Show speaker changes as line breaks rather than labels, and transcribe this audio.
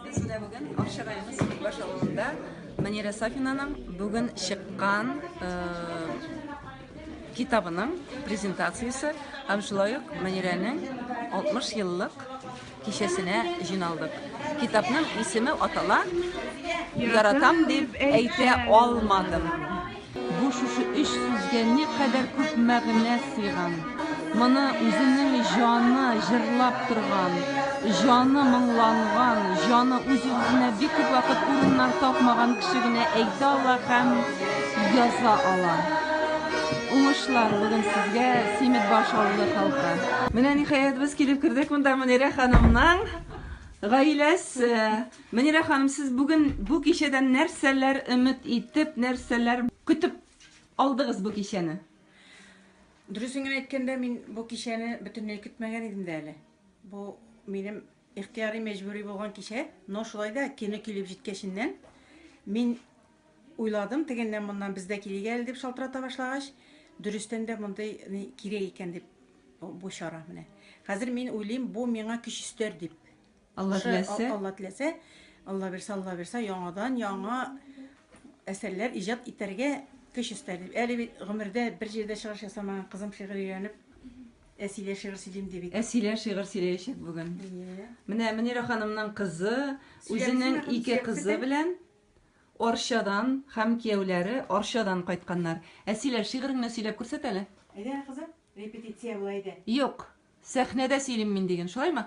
Без менә бүген Арча районы Сибаш авылында Манира Сафинаның бүген чыккан э, китабының презентациясе һәм шулай ук Манирәнең 60 еллык Кичәсенә җыйналдык. Китапның исеме атала, яратам дип әйтә алмадым. Бу шушы өч сүзгә никадәр күп мәгънә сыйган! Моны үзенең җаны җырлап торган, җаны моңланган, җаны үз-үзенә бик күп вакыт урыннар тапмаган кеше генә әйтә ала һәм. язга ала. Уңышлар бүген сезгә, Симитбаш авылы халкы. Менә ниһаять без килеп кердек монда Мөнирә ханымның гаиләсе. Мөнирә ханым, сез бүген бу кичәдән нәрсәләр өмет итеп, нәрсәләр көтеп алдыгыз бу кичәне?
Дөресен генә әйткәндә, мин бу кичәне бөтенләй көтмәгән идем дә әле. Бу минем ихтыяри мәҗбүри булган кичә, но шулай да кино килеп җиткәченнән мин Уйладым, тегеннән-моннан бездә килик әле дип шалтырата башлагач, дөрестән дә мондый ни кирәк икән дип, бу чара менә. Хәзер мин уйлыйм, бу миңа көч өстәр дип. Алла теләсә.
Алла теләсә,
Алла бирсә, Алла бирсә, яңадан яңа әсәрләр иҗат итәргә көч өстәр дип. Әле бит гомердә бер җирдә чыгыш ясамаган кызым шигырь өйрәнеп, Әсилә шигырь сөйлим ди бит. Әсилә шигырь сөйләячәк
бүген. Менә Мөнирә ханымның кызы үзенең ике кызы белән Арчадан һәм кияүләре Арчадан кайтканнар. Әсилә, шигыреңне сөйләп күрсәт әле. Әйдә, кызым, репетиция
була иде.
Юк, сәхнәдә сөйлим мин
диген,
шулаймы?